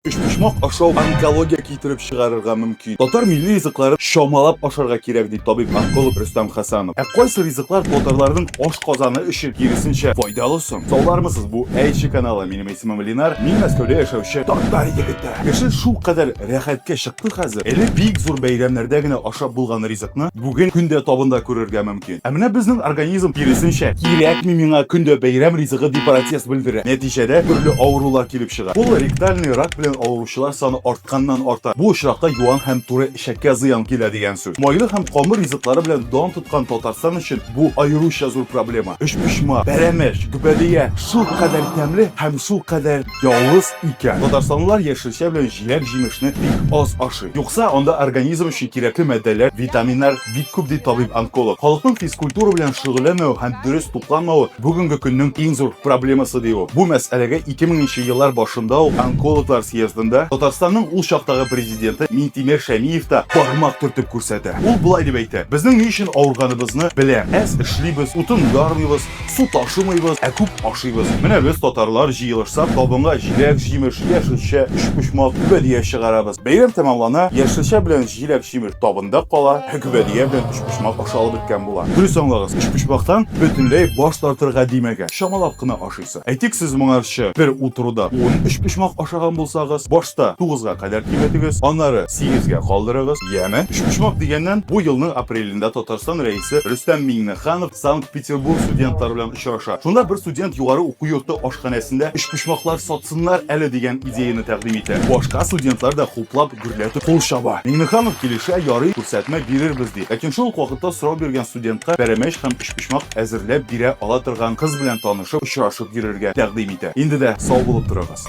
Өчпочмак ашау онкология китереп чыгарырга мөмкин. Татар милли ризыкларын чамалап ашарга кирәк, ди табиб-онколог Рөстәм Хәсәнов. Ә кайсы ризыклар татарларның ашказаны өчен киресенчә файдалы соң? Саулармысыз, бу Әйче каналы. Минем исемем Ленар, мин Мәскәүдә яшәүче татар егете. Кеше шулкадәр рәхәткә чыкты хәзер, элек бик зур бәйрәмнәрдә генә ашап булган ризыкны бүген көн дә табында күрергә мөмкин. мөмкин. Ә менә безнең организм, киресенчә, кирәкми миңа көн дә бәйрәм ризыгы дип протест белдерә. Нәтиҗәдә төрле авырулар килеп чыга. Колоректальный рак белән авыручылар саны артканнан-арта. Бу очракта юан һәм туры эчәккә зыян килә дигән сүз. Майлы һәм камыр ризыклары белән дан тоткан Татарстан өчен бу аеруча зур проблема. Өчпочмак, пәрәмәч, гөбәдия шулкадәр тәмле һәм шулкадәр. Ялгыз икән. Татарстанлылар яшелчә белән җиләк-җимешне бик аз ашый. Юкса, анда организм өчен кирәкле матдәләр, витаминнар бик күп, ди табиб-онколог. Халыкның физкультура белән шөгыльләнмәве һәм дөрес тукланмавы, бүгенге көннең иң зур проблемасы, ди ул. Бу мәсьәләгә 2000 нче еллар башында ук онкологлар съездында Татарстанның ул чактагы президенты Минтимер Шәмиев та бармак төртеп күрсәтә. Ул болай дип әйтә, Безнең ни өчен авырганыбызны беләм. Әз эшлибез, утын ярмыйбыз. Су ташымыйбыз, ә күп ашыйбыз. Менә без татарлар җыелышсак, табынга җиләк-җимеш, яшелчә, өчпочмак, гөбәдия чыгарабыз. Бәйрәм тәмамлана, яшелчә белән җиләк-җимеш табында кала, ә гөбәдия белән өчпочмак ашалып беткән була. Дөрес аңлагыз, өчпочмактан бөтенләй баш тартырга димәгән. Чамалап кына ашыйсы. Әйтик, сез моңарчы бер утыруда ун өчпочмак ашаган булсагыз, башта тугызга кадәр киметегез, аннары сигезгә калдырыгыз, яме? Өчпочмак дигәннән, бу елның апрелендә Татарстан Рәисе Рөстәм Миңнеханов Санкт-Петербург студентлары белән очраша. Шунда бер студент югары уку йорты ашханәсендә өчпочмаклар сатсыннар әле дигән идеяны тәкъдим итә. Башка студентлар да хуплап, гөрләтеп кул чаба. Миңнеханов килешә, ярый, күрсәтмә бирербез ди. Ләкин шул ук вакытта сорау биргән студентка пәрәмәч һәм өчпочмак әзерләп бирә ала торган кыз белән танышып, очрашып йөрергә тәкъдим итә. Инде дә сау булып торыгыз.